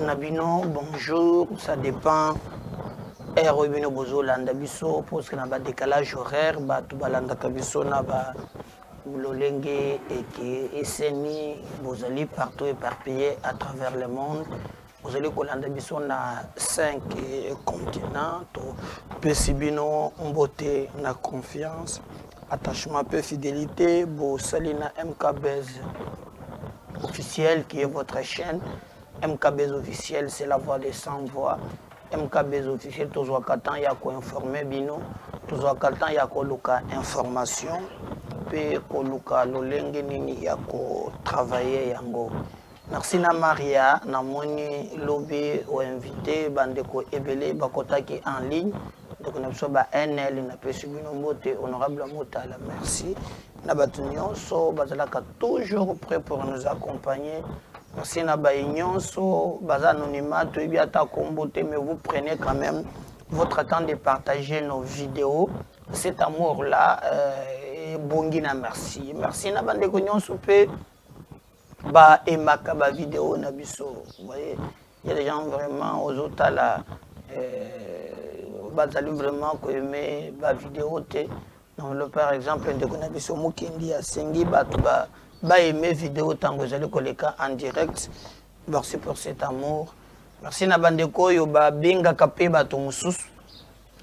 na bino bonjour ça dépend heure oyo bino bozolanda biso parce que na ba décalage horaire bato balandaka biso na ba lolenge eke eseni bozali partout éparpillé à travers le monde bozali kolanda biso na 5 continent topesi bino mbote na confiance attachement mpe fidelité bosali na mkbs officiel qui est votre chaîne mkbs officiel c'est la voix de sans voix mkbs officiel tozwaka temps ya koinforme bino tozwaka temps ya koluka information mpe koluka lolenge nini ya kotravaille yango Merci na Maria, namoni lobi o invité bandeko ebele bakotaki en ligne ndeko na biso ba NL napesi bino mbote honorable Motala merci na bato nyonso bazalaka toujours prêt pour nous accompagner merci na baye nyonso baza anonymat toyebi ata kombo te mais vous prenez quand même votre temps de partager nos vidéos cet amour là euh, ebongi na merci merci na bandeko nyonso mpe ba aimaka ba video na biso voyez il y a des gens vraiment ozo tala euh, bazali vraiment ko aimer ba video te donc le par exemple ndeko na biso mukendi asengi bato ba ba aimer video tango ezali koleka en direct merci pour cet amour merci na bandeko oyo babengaka mpe bato mosusu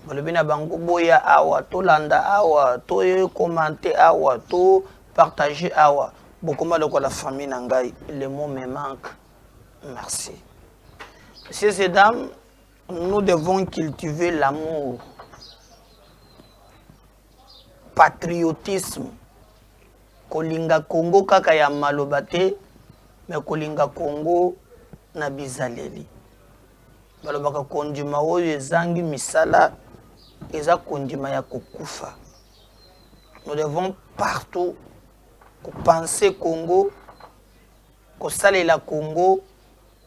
balobi na bango boya awa tolanda awa to commente awa to partage awa bokoma lokola famille na ngai le mot me manque merci messieurs et dames nous devons cultiver l'amour patriotisme kolinga congo kaka ya maloba te me kolinga congo na bizaleli Balobaka kondima oyo ezangi misala eza kondima ya kokufa. Nous devons partout kopense Congo, kosalela Congo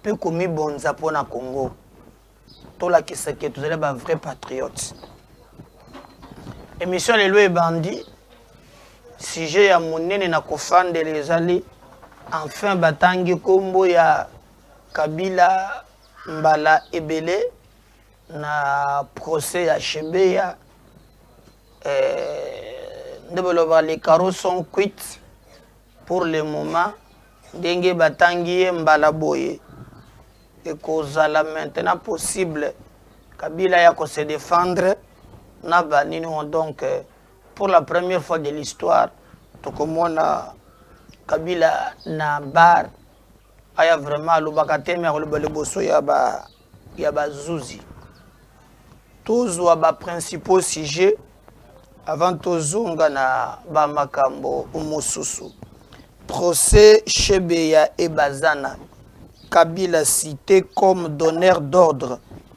mpe komibonza mpo na Congo. Tolakisa ke tozali ba vrai patriote. Emission lelo ebandi sujet ya monene na kofandela ezali enfin batangi nkombo ya kabila Mbala ebele na procès ya Shebeya euh, nde boloba les carreaux sont cuits pour le moment ndenge batangi ye mbala boye ekozala maintenant possible kabila ya ko se défendre na banini donc euh, pour la première fois de l'histoire tokomona kabila na bar aya vraiment alobaka te me akoloba liboso ya ba ya bazuzi tozwa baprincipaux sujet avant tozonga na bamakambo mosusu procès shebe ya ebazana kabila cité comme donneur d'ordre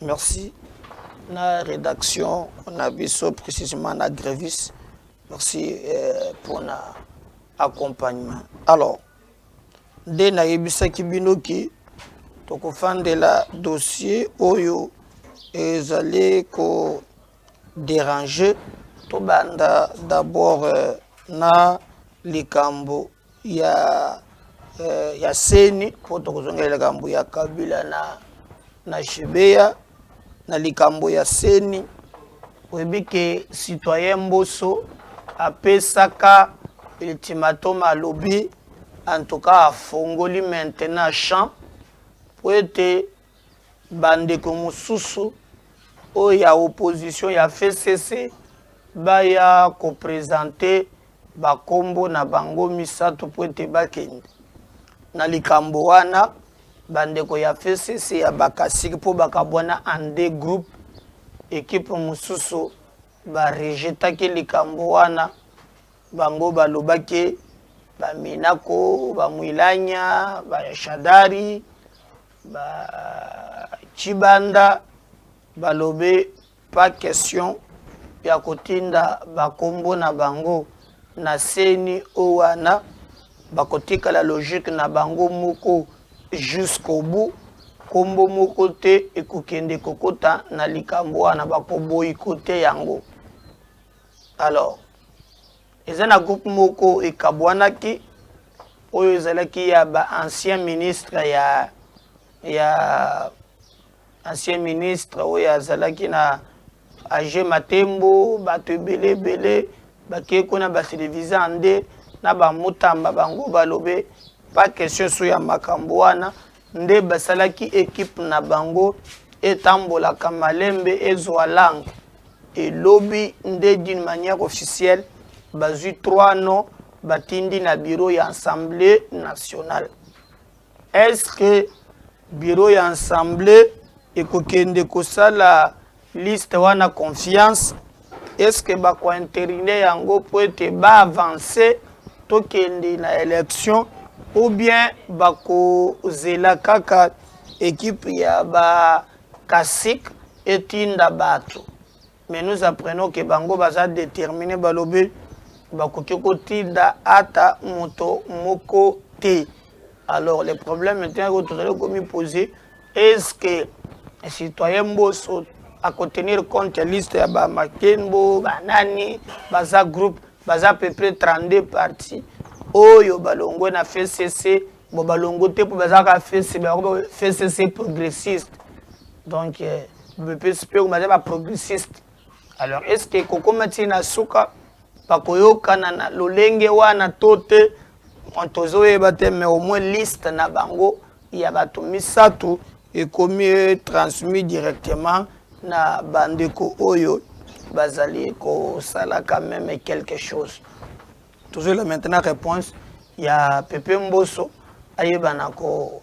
Merci na redaction na biso précisément na Grevis. Merci euh, pour na accompagnement. Alors, nde nayebisaki bino ki tokofandela dossier oyo ezali ko déranger tobanda d'abord euh, na likambo ya euh, ya seni po tokozongela likambo ya kabila na na shebeya na likambo ya seni oyebi ke citoyen mboso apesaka ultimatum alobi en tout cas afongoli maintenant champ po ete Bandeko mosusu oyo ya opposition ya FCC baya ko presenter ba kombo na bango misato po ete bakende na likambo wana bandeko ya FCC ya bakasiki po bakabwana en deux groupes ekipe mosusu barejetaki likambo wana bango balobaki baminako bamwilanya bashadari Ba Tshibanda balobi pas question ya kotinda bakombo na bango na seni o wana bakotikala logique na bango moko jusqu'au bout kombo moko te ekokende kokota na likambo wana bakoboyikote yango alors Eza na groupe moko ekabwanaki oyo ezalaki ya ba ancien ministre ya ya ancien ministre oyo azalaki na age matembo bato ebele ebele bakei kuna batelevise ande na bamutamba bango balobe pa question so ya makambo wana nde basalaki equipe na bango etambolaka malembe ezwa langue et lobi nde d'une manière officielle bazwi trois noms batindi na bureau ya assemblée nationale est ce que bureau ya assemblée ekokende kosala Liste wana confiance est-ce que ba ko interiner yango po ete ba avancer tokende na election ou bien bakozela kaka ekipe ya ba kasik etinda bato mais nous apprenons ke bango baza détermine balobi bakoki kotinda ata moto moko te alors le problème te oyo tozali komipose Est ce que citoyen Mboso à contenir compte liste ya ba Makenbo, ba nani, baza groupe, baza à peu près 32 partis oyo balongwe na FCC, bo balongo te po baza ka FCC, ba FCC progressiste. Donc euh, bepesi pe baza ba progressiste. Alors est ce que kokoma ti na suka bakoyokana na lolenge wana to te tozoyeba te mais au moins liste na bango ya bato misato ekomi e transmis directement na bandeko oyo bazali kosalaka meme quelque chose tozoyela maintenant réponse ya pepe mboso ayebana ko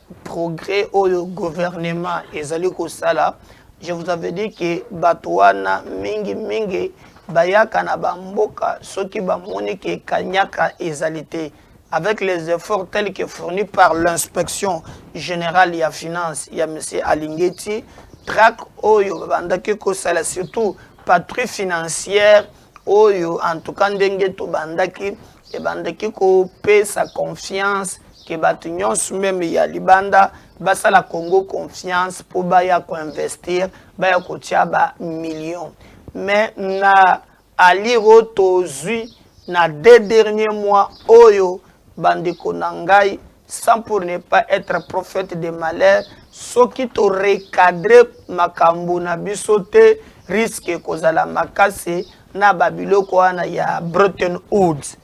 progrès oyo gouvernement ezali kosala je vous avais dit que bato wana mingi mingi bayaka na bamboka soki bamoni ke kanyaka ezali te avec les efforts tels que fournis par l'inspection générale ya finance ya monsieur alingeti track oyo babandaki kosala surtout patrie financière oyo en tout cas ndenge tobandaki ebandaki kopesa confiance ke bato nyonso meme ya libanda basala congo confiance mpo baya koinvestir baya kotya ba million mais na alire oyo tozwi na deux dernier mois oyo bandeko na ngai sans pour ne pas être prophète de malheur soki to recadre makambo na biso te risque ekozala makasi na babiloko wana ya Bretton Woods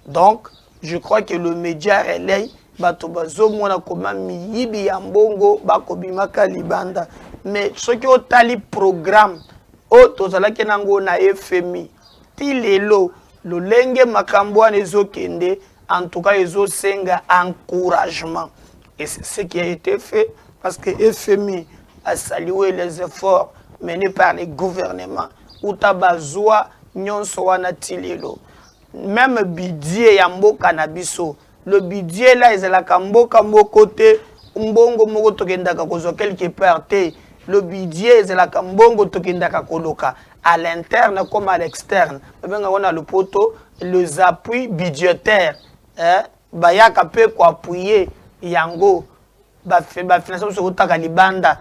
donc je crois que le média relais bato bazomona koma miyibi ya mbongo bakobimaka libanda mais soki otali programme oyo tozalaki nango na fmi ti lelo lolenge makambo wana ezokende En tout cas, ezo senga encouragement. Et c'est ce qui a été fait parce que FMI a salué les efforts menés par les gouvernements. Uta bazwa nyonso wana tilelo. Même budget ya mboka na biso. Le budget là ezalaka mboka moko te, mbongo moko tokendaka kozwa quelque part te. Le budget ezalaka mbongo tokendaka koloka. à l'interne comme à l'externe babenga ngo na lopoto les appuis budgétaires eh? bayaka mpe koappuye yango bafinance biso eutaka libanda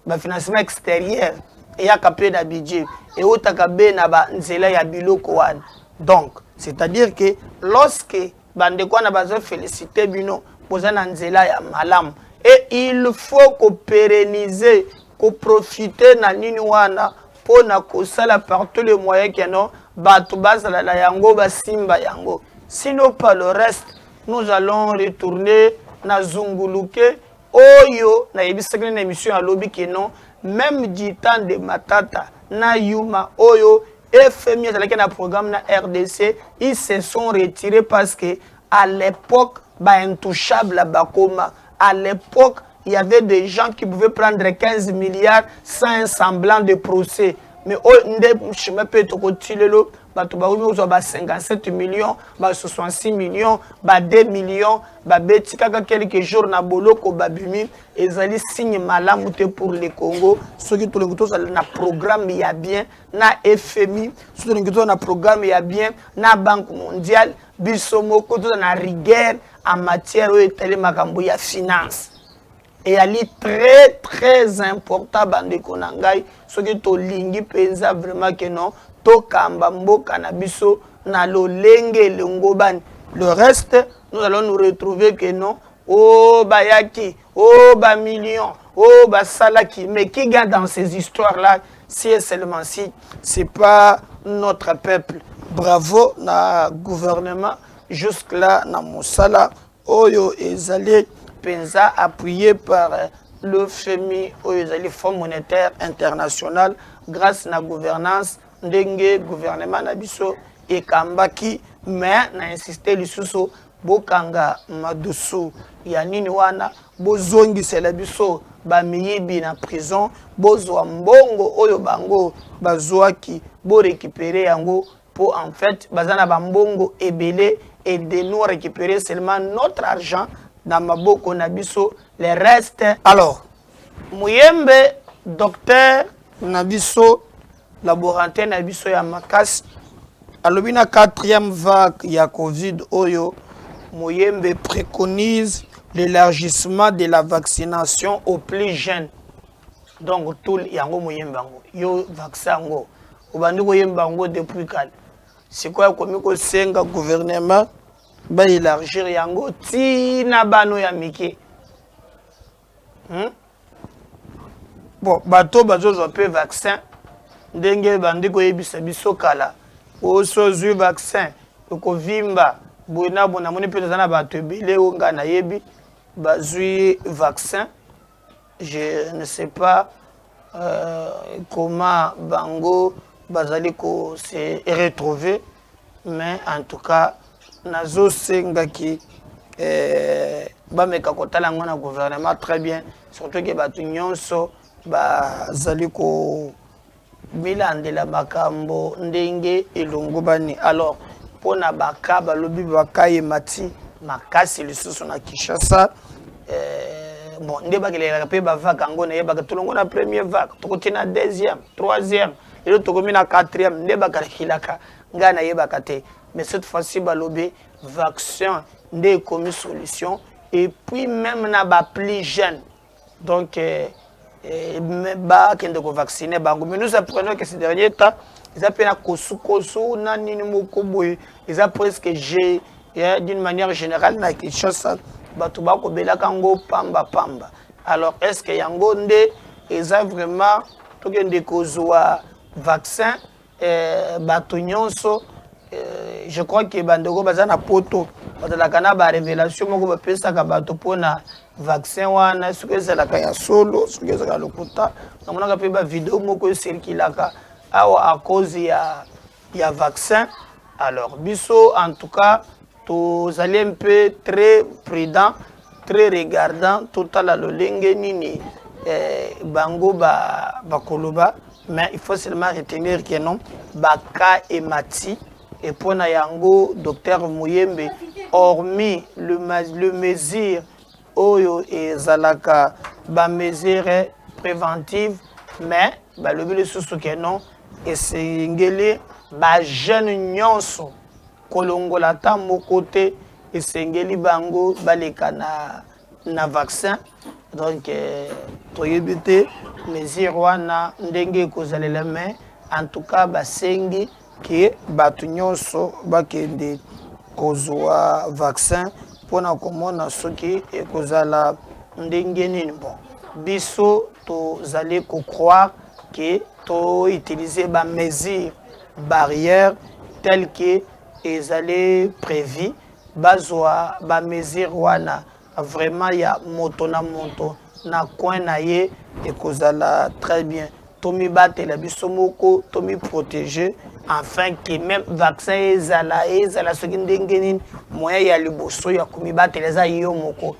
bafinancement extérieur eyaka mpe na budget eutaka be na banzela ya biloko wana donc c'est-à-dire que lorsque Bandeko wana bazo felicite bino boza na nzela ya malamu et il faut ko pérenniser ko profiter na nini wana mpo na kosala par tous les moyens que non bato bazala na yango basimba yango sinon par le reste nous allons retourner na zunguluke oyo nayebisaki na émission ya lobi que non même du temps de matata na yuma oyo FMI azalaki na programme na RDC, ils se sont retirés parce que à l'époque ba intouchables à Bakoma, à l'époque il y avait des gens qui pouvaient prendre 15 milliards sans un semblant de procès. Mais oh, nde chemin peut être kotilelo bato bakomi kozwa ba 57 millions ba 66 millions ba 2 millions babeti kaka quelques jours na boloko babimi ezali signe malamu te pour le congo soki tolingi tozala na programme ya bien na FMI, soki tolingi tozala na programme ya bien na Banque mondiale, biso moko tozala na rigueur en matière oyo etali makambo ya finance. eyali très très important bandeko na ngai soki tolingi mpenza vraiment ke non tokamba mboka na biso na lolenge elongobani le reste nous allons nous retrouver que non o oh, bayaki oh ba millions, oh ba salaki, mais qui gagne dans ces histoires-là, si et seulement si, c'est pas notre peuple. Bravo na gouvernement, jusque là na Moussala, oyo ezali penza appuyé par euh, le FMI, oyo ezali Fonds monétaire international, grâce na gouvernance ndenge gouvernement na biso ekambaki mais na insiste lisusu Bokanga madusu ya nini wana bozongisela biso ba miyibi na prison bozua mbongo oyo bango bazuaki bo recuperer yango po en faite baza na ba mbongo ebele et de nous recuperer seulement notre argent na maboko na biso le reste Alors muyembe docteur na biso Laborantin na biso ya makasi alobi na quatrième vague ya covid oyo moyembe préconise l'élargissement de la vaccination au plus jeune donc tout yango moyembe yango yo vaccin yango obandi koyemba yango depuis kale sikoyo akomi kosenga gouvernement baélargir yango ntina bano ya mike hmm? bon bato bazozwa mpe vaccin ndenge bandi koyebisa biso kala osi ozwi vaccin okovimba boye na bo namoni mpe toza na bato ebele oyo ngai nayebi bazwi vaccin je ne sais pas euh, comment bango bazali ko se retrouver mais en tout cas nazo senga ki eh, bameka kotala yango na gouvernement très bien surtout ke bato nyonso bazali ko milandela makambo ndenge elongobani alors mpo na baka balobi baka emati makasi lisusu na kinshasa eh, bon nde bakelelaka mpe bavaka yango nayebaka tolongo na premier vague tokoti na deuxième troisième lelo tokomi na quatrième nde bakalakilaka ngai nayebaka te mais cette fois-ci balobi vaccin nde ekomi solution et puis même na ba plus jeune donc eh, eh, bakende kovaccine bango mais nous apprenons que ces dernier temps eza mpe na kosukosu na nini moko boye eza presque je eh, d'une manière générale na kinshasa bato bakobelaka yango pamba pamba alors est ce que yango nde eza vraiment tokende kozwa vaccin eh, bato nyonso eh, je crois ke bandeko baza na poto bazalaka na barevelation moko bapesaka bato mpona vaccin wana soki ezalaka ya solo soki ezalaka lokuta namonaka mpe bavideo moko eserkilaka awa a cause ya ya vaccin alors biso en tout cas tozali un peu très prudent très regardant totala lolenge nini eh, bango bakoloba ba mais il faut seulement retenir que non baka emati et mpo na yango docteur moyembe hormis le, le mesure oyo ezalaka ba mesure preventive mais balobi lisusu ke non esengeli ba jeune nyonso kolongola ata moko te esengeli bango baleka na, na vaccin donc eh, toyebi te mesure wana ndenge ekozalele mais en tout cas basengi ke bato nyonso bakende kozwa vaccin mpo na komona soki ekozala ndenge nini bon biso tozali kocroire ke toutilize bamesure barrière tel ke ezali prévu bazwa bamesure wana Vraiment ya moto na moto na coin na ye ekozala très bien tomibatela biso moko tomiprotege afin que même vaccin ezala ezala soki ndenge nini moyen ya liboso ya komibatela eza yo moko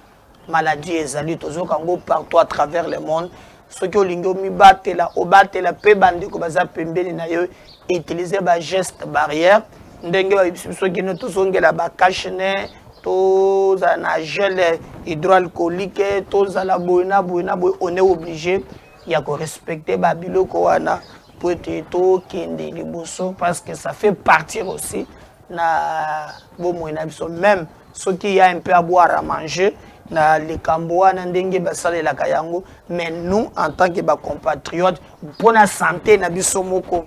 maladie ezali tozoyoka yango partout à travers le monde soki olingi omibatela obatela mpe bandeko baza pembeni na yo utiliser ba geste barrière ndenge bayebisi biso kino tozongela ba cachene tozala na gel hydroalcoolique tozala boye na boye na boye on est obligé ya korespecte babiloko wana mpo ete tokende liboso parce que ça fait partir aussi na bomoi na biso meme soki ya un peu à boire à manger na likambo wana ndenge basalelaka yango mais nous en tant que bacompatriote mpo na sante na biso moko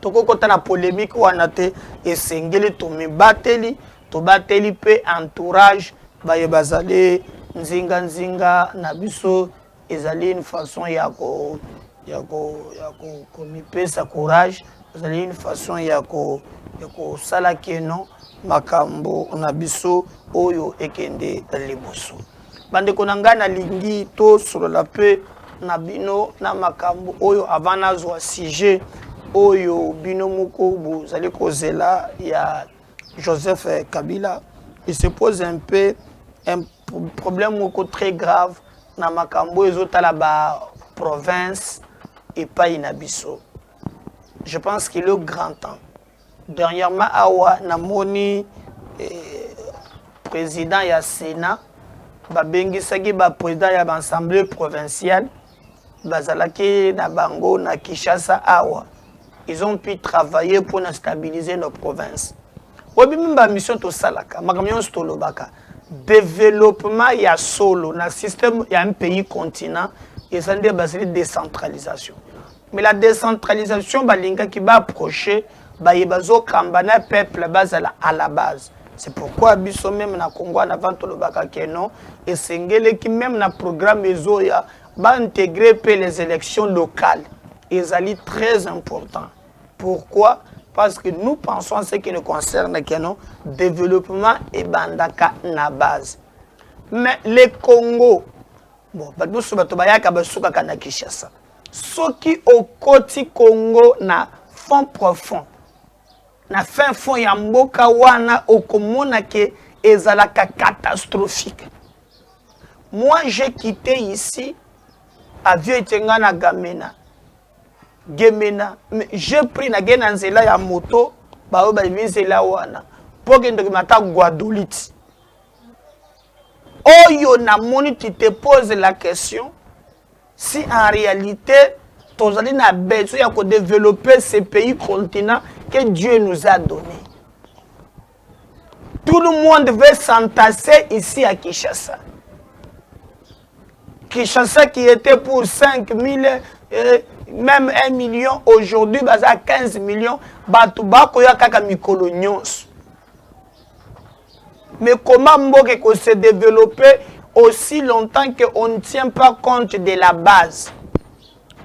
tokokota na polémique wana te esengeli tomibateli tobateli mpe entourage baye bazali nzinganzinga na biso Ezali une façon ya ko ya ko ya ko komipesa courage, ezali une façon ya ko ya kosala keno makambo na biso oyo ekende liboso. Bandeko na ngai nalingi tosolola mpe na bino na makambo oyo avant nazwa sujet oyo bino moko bozali kozela ya Joseph eh, Kabila, il se pose un peu un problème moko très grave na makambo ezotala ba province epai na biso. Je pense qu'il est grand temps. Dernièrement awa namoni eh, président ya Sénat babengisaki ba président ya ba assemblée provinciale bazalaki na bango na Kinshasa awa ils ont pu travailler pour na stabiliser nos provinces obimi ba mission tosalaka makambo nyonso tolobaka développement ya solo na système ya un pays continent eza nde basili décentralisation mais la décentralisation balingaki baapproche baye bazo kamba na peuple bazala à la base c'est pourquoi biso meme na Congo en avant tolobaka que non esengeleki meme na programme ezoya ba intégrer pe les élections locales ezali très important pourquoi parce que nous pensons à ce qui nous concerne que non développement ebandaka na base mais le Congo bon bato mosusu bato bayaka basukaka na Kinshasa Soki okoti Congo na fond profond, na fin fond ya mboka wana, okomona ke ezalaka catastrophique. Moi, j'ai quitté ici, avion ete nga na Gamena, Gemena, j'ai pris na gena nzela ya moto, baoyo bayebi nzela wana, po kende kima ata Guadolite. Oyo na moni, tu te pose la question, Si en realite tozali na besoin ya ko developper ce pays continent que Dieu nous a donné. Tout le monde veut s'entasser ici à Kinshasa. Kinshasa qui était pour 5 000, euh, même 1 million, aujourd'hui, baza 15 millions, bato bakoya kaka mikolo nyonso. Mais comment mboka eko se developper aussi longtemps qu'on ne tient pas compte de la base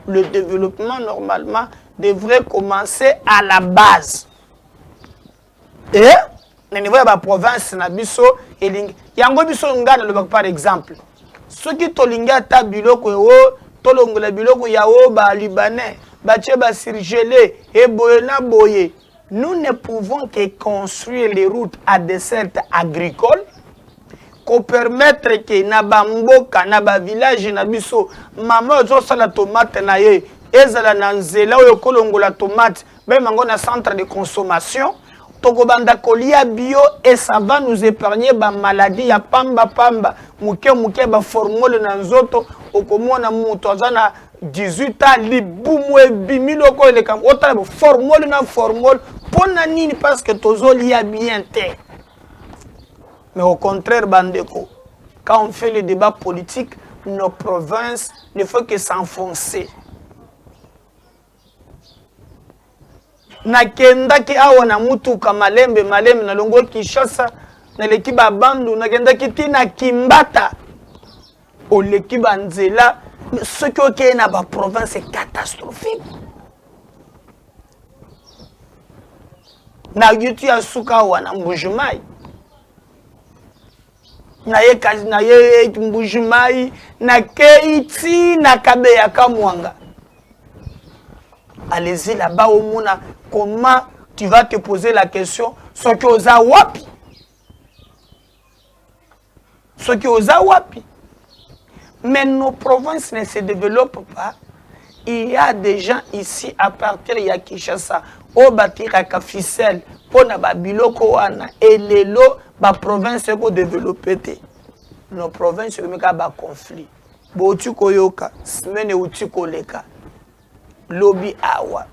Le développement, normalement, devrait commencer à la base. Et na niveau ya baprovince na biso elingi yango biso ngai nalobaka par exemple soki tolingi ata biloko eo oh, tolongola biloko ya o oh, balibanais batie basurgele eboye na boye Nous ne pouvons que construire les routes à desserte agricole ko permettre que na ba mboka na ba village na biso mama ozo sala tomate na ye ezala na nzela oyo kolongola tomate meme yango na centre de consommation tokobanda kolia bio et ça va nous épargner bamaladi ya pamba pamba moke moke baformole na nzoto okomona moto aza na 18 ans libumu ebimi loko eleka otala bo formol na formol mpo na nini parce que tozolia bien te mais au contraire bandeko quand on fait le débat politique nos provinces ne faut que s'enfoncer nakendaki awa na mutuka malembe malembe nalongwe kinshasa naleki babandu nakendaki ti na kimbata oleki banzela soki okei na baprovince catastrophique na yuti ya suka awa na mbujumai naye kasi naye mbujumayi nakeyi ti na kabeya kamwanga allez-y là-bas omona comment tu vas te poser la question soki oza wapi soki oza wapi mais nos provinces ne se développent pas Il y a des gens ici à partir ya Kinshasa oyo batiraka ficelle mpo na babiloko wana elelo baprovince eko developpe te no province ekomi kaka baconflit bouti koyoka semaine euti koleka lobi awa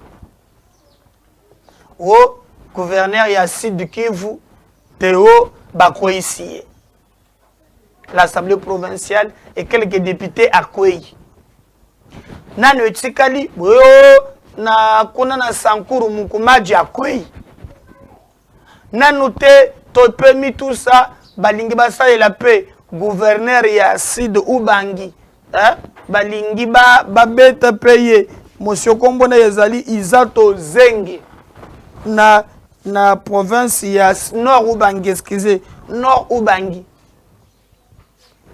o oh, gouverneur ya sud kivu teo bakweisi ye l'assemblée provinciale et quelques députés akwei nano etikali boyo na kuna na sankuru mukumaji akwei nanu te topemi tusa balingi basalela mpe gouverneur ya sud ubangi eh? balingi ba babeta mpe ye mosio nkombo na ye ezali izato zenge na na province ya nord ubangi excuse nord ubangi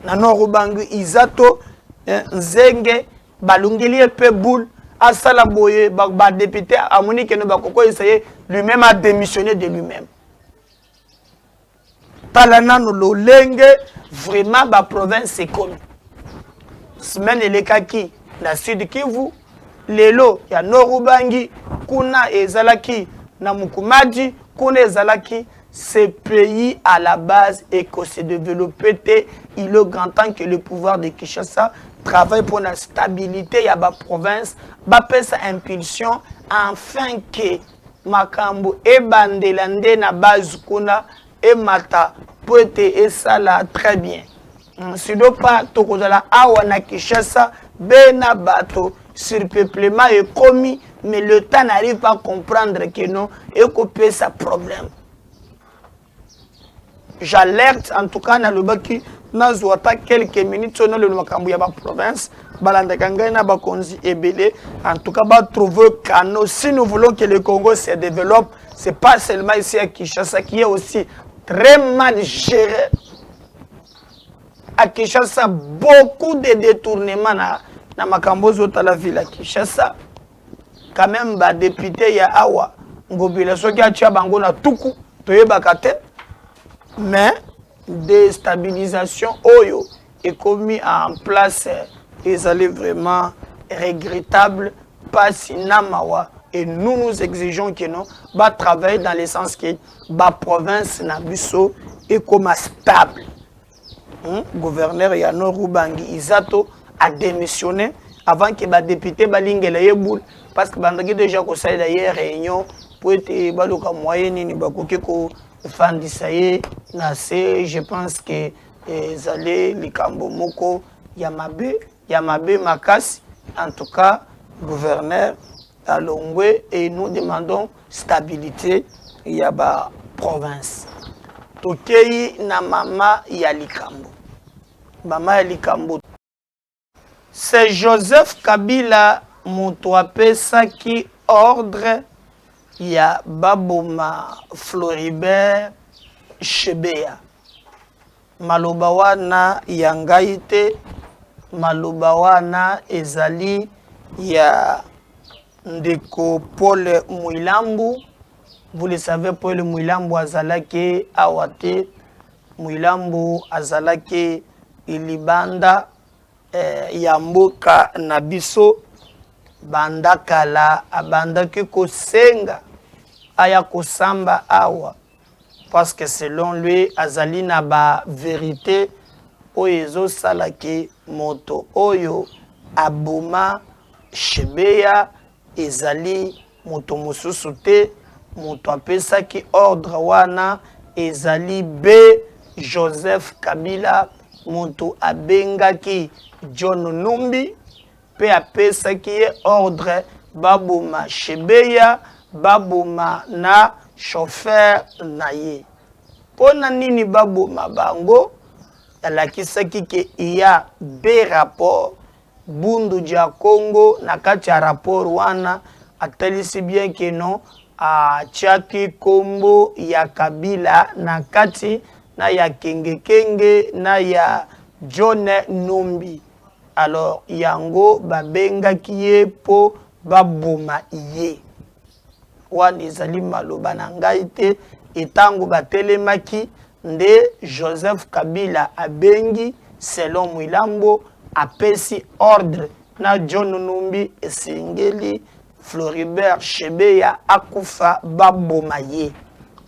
na nord ubangi izato eh, nzenge balongeli ye mpe boule asala boye badepute ba amoni keno bakokoyisa ye lui-même a démissionné de lui-même Tala nanu lolenge vraiment ba province ekomi. Semaine elekaki na Sud Kivu, lelo ya Nord Ubangi, kuna ezalaki na Mukumaji, kuna ezalaki ce pays à la base et que se développer te il est grand temps que le pouvoir de Kinshasa travaille pour la stabilité ya ba province bapesa impulsion afin que Makambo ebandela nde na base kuna emata po ete esala très bien. Sinon pas tokozala awa na Kinshasa bena bato surpeuplement ekomi mais l'etat n'arrive pas à comprendre que non ekopesa problème. J'alerte en tout cas nalobaki nazwa ata quelques minutes oyo naloba makambo ya baprovince balandaka ngai na bakonzi ebele en tout cas batrouve cano si nous voulons que le congo se développe c'est pas seulement ici à kinshasa qui est aussi très mal géré à kinshasa beaucoup de détournement na, na makambo ozotala ville ya kinshasa quand même ba depute ya awa ngobila soki atia bango na tuku toyebaka te mais destabilisation oyo ekomi en place ezali vraiment regrettable pasi na mawa et nous nous exigeons que non ba travailler dans le sens que ba province na biso ekoma stable Hum, gouverneur ya Nord Ubangi Izato a démissionné avant que ba députés balingela ye boule parce que bandaki déjà kosalela ye réunion mpo ete baluka moyen nini bakoki kofandisa ye na se je pense que ezali likambo moko ya mabe ya mabe makasi en tout cas gouverneur alongwe et nous demandons stabilite ya ba province tokeyi na mama ya likambo mama ya likambo c'est joseph kabila moto apesaki ordre ya baboma floribert shebeya Maloba wana ya ngai te, maloba wana ezali ya ndeko Paul Mwilambu. Vous le savez, Paul Mwilambu azalaki awa te. Mwilambu azalaki libanda eh, ya mboka na biso banda kala abandaki kosenga aya kosamba awa parce que selon lui azali na ba verite oyo ezosala ke moto oyo aboma shebeya ezali moto mosusu te moto apesaki ordre wana ezali be joseph kabila moto abengaki john numbi Mpe apesaki ye ordre baboma Shebeya, baboma na chauffeur na ye. Mpo na nini baboma bango? Alakisaki ke il y a deux rapports Bundu dia Kongo na kati ya rapport wana atalisi bien que non atiaki kombo ya Kabila na kati na ya Kenge Kenge na ya John Numbi. Alors yango ba bengaki ye po ba boma ye. Wana ezali maloba na ngai te et tango ba telemaki nde Joseph Kabila abengi selon Mwilambo apesi ordre na John Numbi esengeli Floribert Chebeya akufa ba boma ye.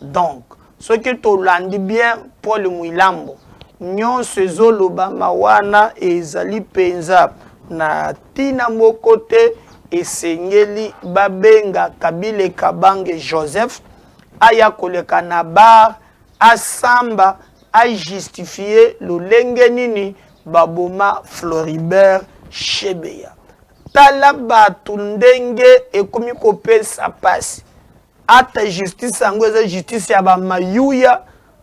Donc Soki tolandi bien Paul Muilambo, nionso ezolobama wana ezali penza na tina moko te, esengeli babenga Kabile Kabange Joseph aya koleka na bar asamba a justifier lolenge nini baboma Floribert Chebeya. Tala batu ndenge ekomi kopesa pasi. Ata justice yango eza justice ya ba mayuya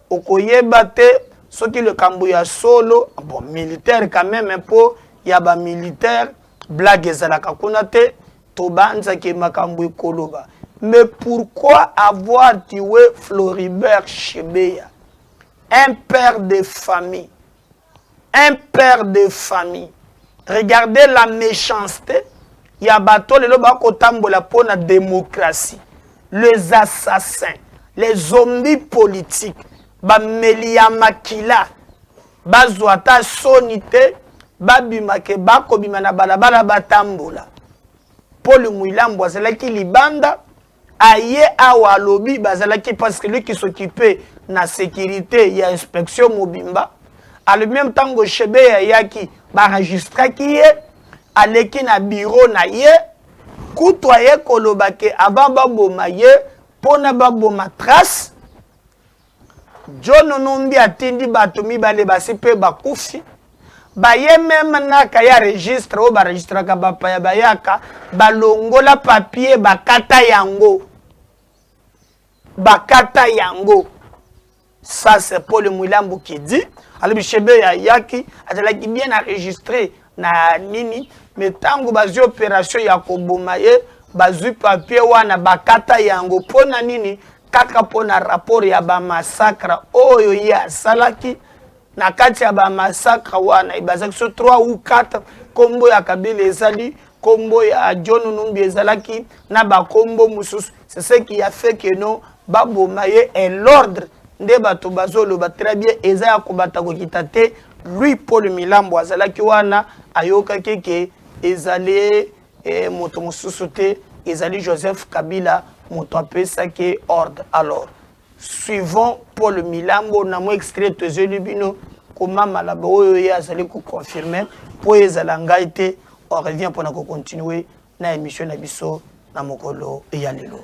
okoyeba te soki likambo ya solo bon militaire quand même mpo ya ba militaire blague ezalaka kuna te tobanzaki makambo ekoloba mais pourquoi avoir tué Floribert Chebeya un père de famille Un père de famille regardez la mechancete ya bato lelo ba kotambola mpo na democratie les assassins les zombies politiques bameli ya makila bazwa ata soni te babima ke ba kobima na balabala batambola Paul Mwilambo azalaki libanda Aye awa alobi bazalaki parce que lui qui s'occuper na securite ya inspection mobimba alobi meme tango chebe ayaki ba registraki ye aleki na bureau na ye kutu aye koloba ke avant baboma ye pona baboma trace John Numbi atindi bato mibale basi mpe bakufi baye meme naka ya registre oyo baregistraka bapaya bayaka balongola papier bakata yango bakata yango ça c'est paul mwilambu qui dit alobi shebe ya yaki azalaki bien enregistré na nini me ntango bazwi opération ya koboma ye bazwi papier wana bakata yango mpo na nini kaka mpo na rapport ya ba massacre oyo ye asalaki na kati ya ba massacre wana ebazaki so 3 ou 4 nkombo ya kabila ezali nkombo ya john numbi ezalaki na bankombo mosusu c'est ce qui a fait que non baboma ye et l'ordre nde bato bazoloba très bien eza ya kobata kokita te lui paul milambo azalaki wana ayokaki ke ezali et moto mosusu te ezali Joseph Kabila moto apesaki ordre alors suivant Paul Milambo na mwa extrait tozeli bino koma malaba oyo ye azali koconfirme mpo ezala ngai te on revient mpona kocontinue na émission na biso na mokolo ya lelo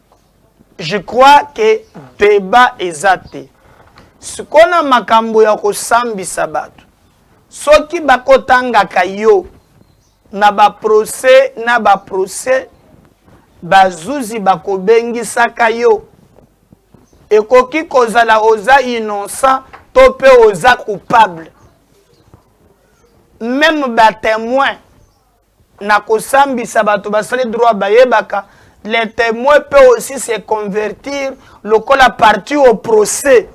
Je crois que debat eza te. Sikoyo na makambo ya kosambisa bato, soki bakotangaka yo na baprocès na baprocès, bazuzi bakobengisaka yo. Ekoki kozala oza innocent to mpe oza coupable. Meme batemoin na kosambisa bato basali droit bayebaka le temoin peut aussi se convertir lokola parti au procès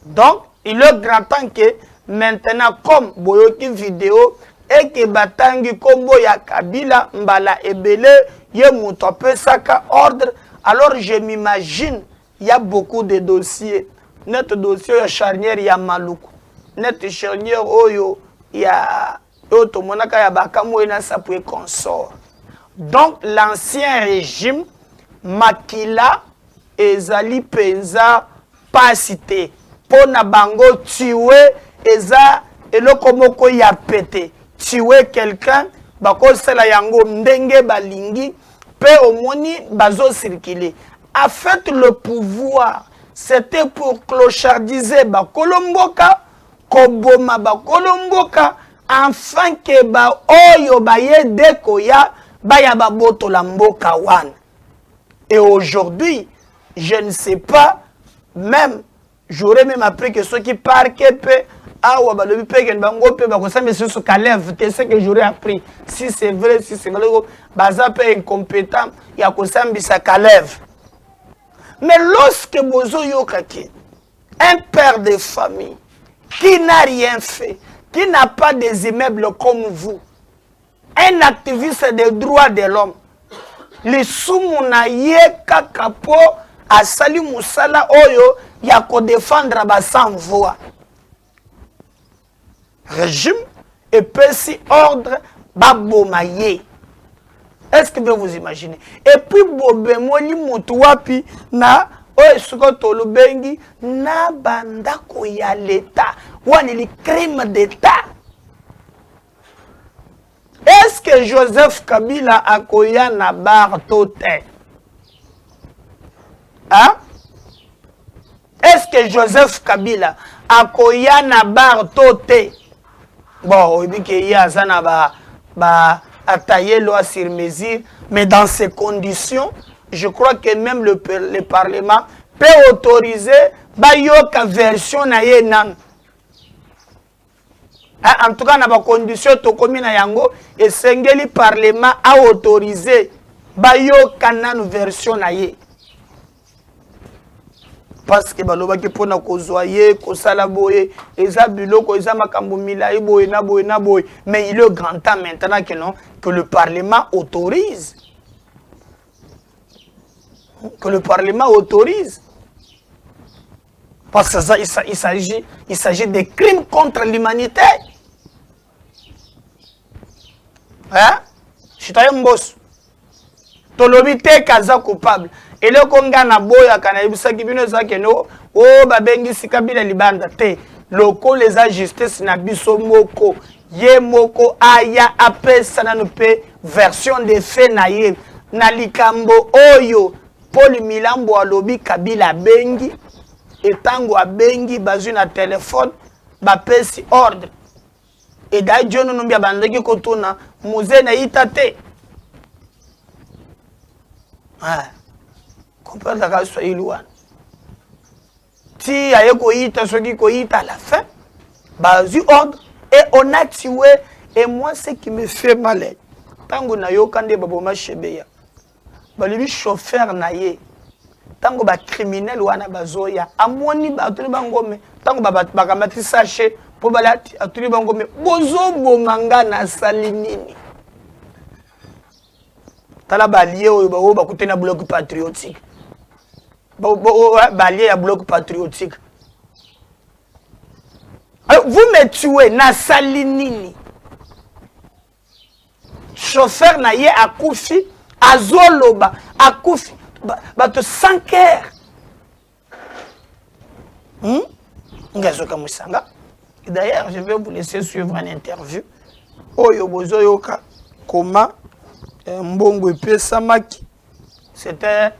donc il est grand temps que maintenant comme boyoki video eke batangi nkombo ya kabila mbala ebele ye moto apesaka ordre alors je m'imagine ya beaucoup de dossier nete dossier ya charnière ya maluku nete charnière oyo ya oyo tomonaka ya bakamue na sapu et consort donc l'ancien régime makila ezali mpenza mpasi te mpo na bango tue eza eloko moko ya pete tue quelqu'un bakosala yango ndenge balingi mpe omoni bazosirkile en fait le pouvoir c'était pour clochardiser bakolo mboka koboma bakolo mboka enfin ke baoyo baye de koya baya babotola mboka wana et aujourd'hui je ne sais pas même j'aurais même appris que soki parke mpe awa balobi mpe kende bango mpe bakosambisa lisusu kaleve te ce que j'aurais appris si c'est vrai si c'est vrai baza mpe incompétent ya kosambisa kaleve mais lorsque bozoyoka ke Un père de famille qui n'a rien fait, qui n'a pas des immeubles comme vous, un activiste des droits de l'homme, lisumu na ye kaka mpo asali mosala oyo ya kodefendre ba sans voix. regime epesi ordre baboma ye est ce que bien vous imaginez et puis bobemoni motu wapi na oyo esika tolobengi na bandako ya leta wana eli crime d'etat est ce que joseph kabila akoya na bar to te hein? Est ce que Joseph Kabila akoya na bar to te? Bon, oyebi ke ye aza na ba ba ataye loi sur mesure, mais dans ces conditions, je crois que même le, le parlement peut autoriser bayoka version na ye nanu Ah, en tout cas na bacondition tokomi na yango esengeli parlement aautorise bayoka nanu version na ye parce que balobaki mpona kozwa ye kosala boye eza biloko eza makambo milai boye na boye na boye mais il est grand temps maintenant que non que le parlement autorise que le parlement autorise Parce que ça, il s'agit, il s'agit des crimes contre l'humanité. Hein? Citoyen Mbos. Tolobi te kaza coupable. eloko ngai naboyaka nayebisaki bino eza kende o oh, babengisi kabila libanda te lokola eza justice na biso moko ye moko aya apesa nanu mpe version de fait na ye na likambo oyo Paul Milambo alobi Kabila abengi et tango abengi bazui na telephone bapesi ordre et d'ailleurs John Numbi abandaki kotuna muze na ita te ah, comprendre kaka swahili wana ti aye koyita soki koyita à la fin bazui ordre et on a tué et moi ce qui me fait mal ntango nayoka nde baboma shebeya balobi chauffeur na ye ntango bacriminele wana bazoya amoni batuni bango me ntango bakamati sache mpo balati atuni bango me bozoboma nga nasali nini tala balie oyo baoyo bakute na bloc patriotique balie ya bloc patriotique vous me tue nasali nini chauffeur na ye akufi azoloba akufi bato sans cœur hmm? ngai azokamwisa nga d'ailleurs je vais vous laisser suivre un interview oyo bozoyoka koma eh, mbongo epesamaki C'était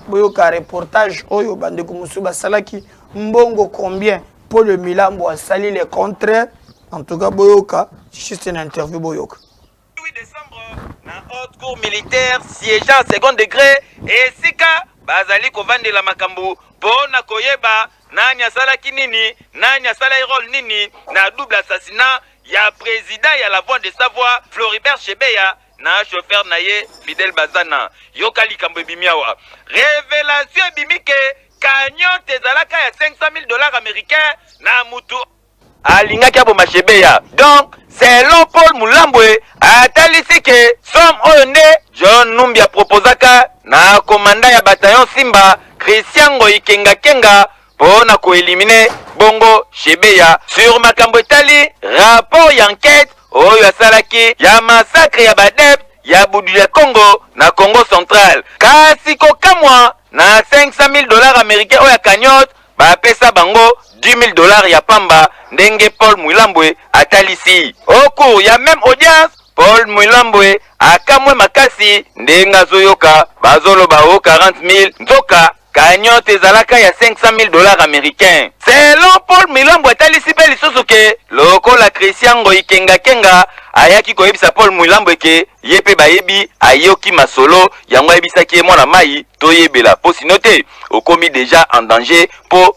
boyoka reportage oyo bandeko mosusu basalaki mbongo combien mpo le milambo asali le contraire en tout cas boyoka juste na interview boyoka na haute cour militaire siégeant second degré esika bazali kovandela makambo mpo na koyeba nani asalaki nini nani asalaki role nini na double assassinat ya président ya la voix de savoie floribert chebeya na chauffeur na ye Fidel Bazana. Yoka likambo ebimi awa. Revelation ebimi ke cagnotte ezalaka ya 500 000 dollars américains na mutu alingaki aboma Shebeya. Donc selon Paul Mulambwe atalisi ke somme oyo nde John Numbi aproposaka na komanda ya bataillon Simba Christian Ngoyi Kenga Kenga po na ko eliminer bongo Shebeya sur makambo etali rapport ya enquete oyo asalaki ya massacre ya ba adeptes ya Buduya Kongo na Kongo central. Kasi kokamwa, na 500.000 dollars americains oyo ya cagnotte, bapesa bango 10.000 dollars ya pamba, ndenge Paul Mwilambwe atalisi. Au cours ya meme audience, Paul Mwilambwe akamwe makasi ndenge azoyoka bazoloba o 40.000 nzoka Cagnotte ezalaka ya 500.000 dollars americains. Selon Paul Mwilambo atalisi mpe lisusu ke lokola Christian Ngoyi Kenga Kenga ayaki koyebisa Paul Mwilambo ke ye mpe bayebi ayoki masolo yango ayebisaki ye mwana mayi toyebela mpo sinon te okomi dejà en danger mpo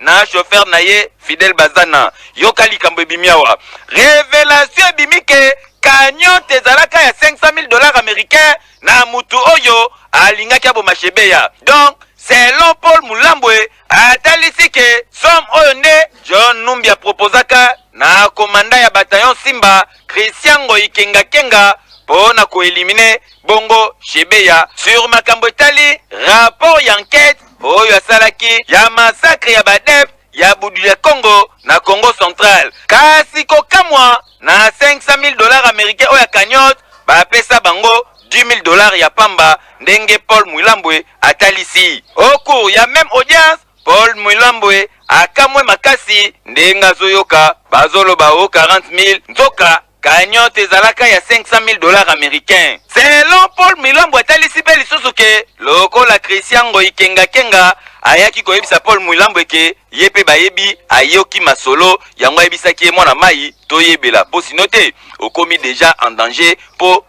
na chauffeur na ye Fidel Bazana. Yoka likambo ebimi awa. Revelation ebimi ke cagnotte ezalaka ya 500 000 dollars americains na mutu oyo alingaki aboma Shebeya. Donc, selon Paul Mulambwe, atalisi ke somme oyo nde John Numbi a proposaka na commandant ya bataillon Simba, Christian Ngoyi Kenga Kenga po na ko eliminer bongo Shebeya sur makambo etali rapport y'enquete oyo asalaki ya massacre ya badep ya budu ya Congo na Congo central kasi kokamwa na 500.000 dollars americains oyo ya cagnotte bapesa bango 10.000 dollars ya pamba ndenge Paul Mwilambwe atalisi. Au cours ya meme audience, Paul Mwilambwe akamwe makasi ndenge azoyoka bazoloba o 40.000 nzoka Cagnotte ezalaka ya 500.000 dollars americains. Selon Paul Mwilambo atalisi mpe lisusu que lokola Christian Ngoyi Kenga Kenga ayaki koyebisa Paul Mwilambo eke ye mpe bayebi, ayoki masolo yango ayebisaki ye mwana mayi toyebela mpo sinon te okomi dejà en danger mpo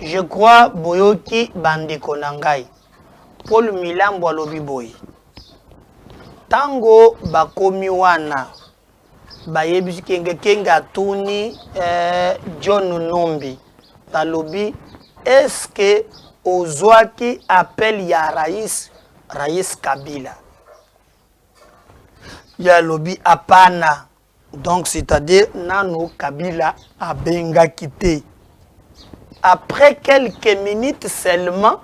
Je crois boyoki bandeko na ngai. Paul Milambo alobi boye, ntango bakomi wana bayebisi kenge kenge atuni eh, John Numbi alobi eske ozwaki appel ya rais rais Kabila ye alobi hapana Donc c'est à dire nano Kabila abenga kite. Après quelques minutes seulement,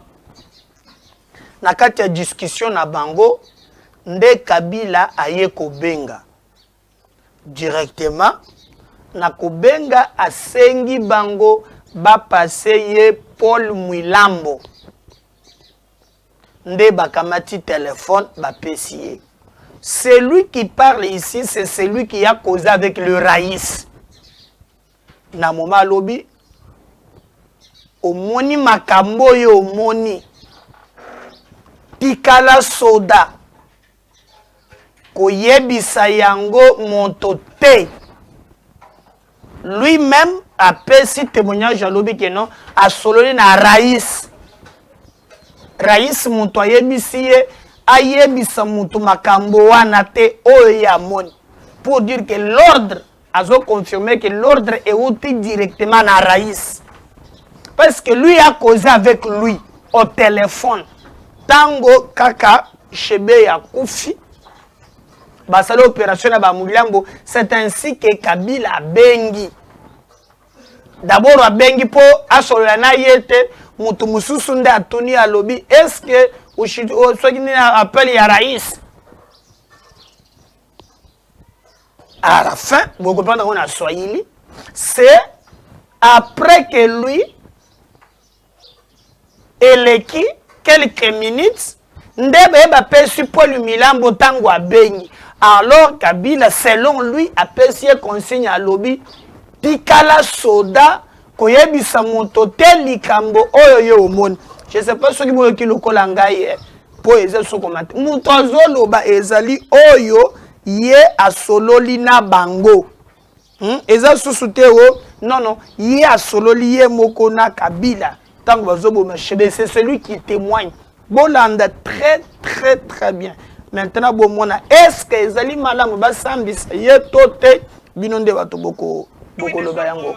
na kati ya discussion na bango, nde Kabila aye kobenga. Directement, na kobenga asengi bango ba passer ye Paul Mwilambo. nde bakamati telephone bapesi ye celui qui parle ici c'est celui qui a causé avec le rais na moma alobi omoni makambo oyo omoni tikala soda koyebisa yango moto te lui meme apesi temoignage alobi ke non asololi na rais rais moto ayebisi ye ayebisa moto makambo wana te oyo ye amoni pour dire que l'ordre azo confirmer que l'ordre euti directement na rais parce que lui a causé avec lui au téléphone tango kaka shebe ya kufi basali opération na bamuliambo c'est ainsi que kabila abengi dabord abengi mpo asolola na ye te moto mosusu nde atuni alobi eske soki nini appel ya rais à la fin vous comprenez on a swahili c'est après que lui eleki quelques minutes nde baye bapesi paul milambo ntango abengi alors kabila selon lui apesi ye consigne alobi tikala soda koyebisa moto te likambo oyo yo omoni je sais pas soki boyoki lokola ngai eh, mpo eza sokoma te moto azoloba ezali oyo ye asololi na bango hmm? eza susu te o oh, nono ye asololi ye moko na kabila ntango bazoboma shebe c'est celui qui témoigne bolanda très très très bien maintenant bomona est ce que ezali malamu basambisa ye to te bino nde bato bokoloba yango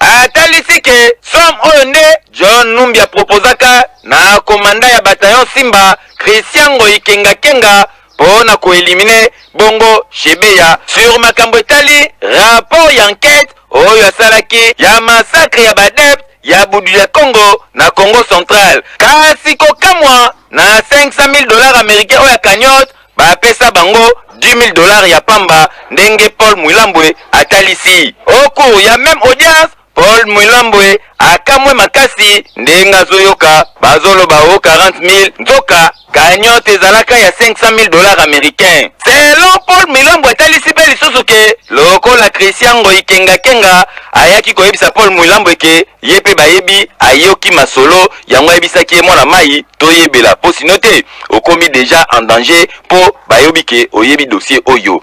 Atalisi que somme oyo nde John Numbi a proposaka na commandant ya bataillon Simba, Christian Ngoyi Kenga Kenga, mpo na ko eliminer bongo Shebeya sur makambo etali rapport ya enquete oyo asalaki ya massacre ya b'adeptes ya Buduya Kongo na Kongo central. Kasi kokamwa, na 500.000 dollars americains oyo ya cagnotte, Ba pesa bango 10.000 dollars ya pamba ndenge Paul Mwilambwe atalisi. Au cours ya meme audience, Paul Mwilambwe akamwe makasi ndenge azoyoka bazoloba o 40.000 nzoka cagnotte ezalaka ya 500.000 dollars americains. Selon Paul Mwilambwe atalisi pe lisusu ke lokola Christian Ngoyi Kenga Kenga ayaki koyebisa Paul Mwilambwe ke ye pe bayebi, ayoki masolo yango ayebisaki ye mwana mayi toyebela mpo sino te okomi deja en danger mpo bayobi ke oyebi dossier oyo.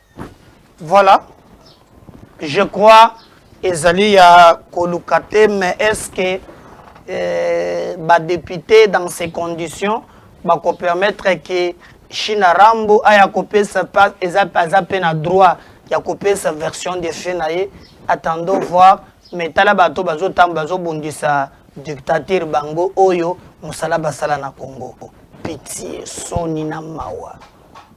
Voilà. Je crois ezali ya koluka te mais est-ce que euh, ba député dans ces conditions bako permettre que Shina Rambo aya kopesa pas eza aza pe na droit ya kopesa version de fait na ye attendons voir mais tala bato bazotamba bazobundisa dictature bango oyo mosala basala na Congo pitié soni na mawa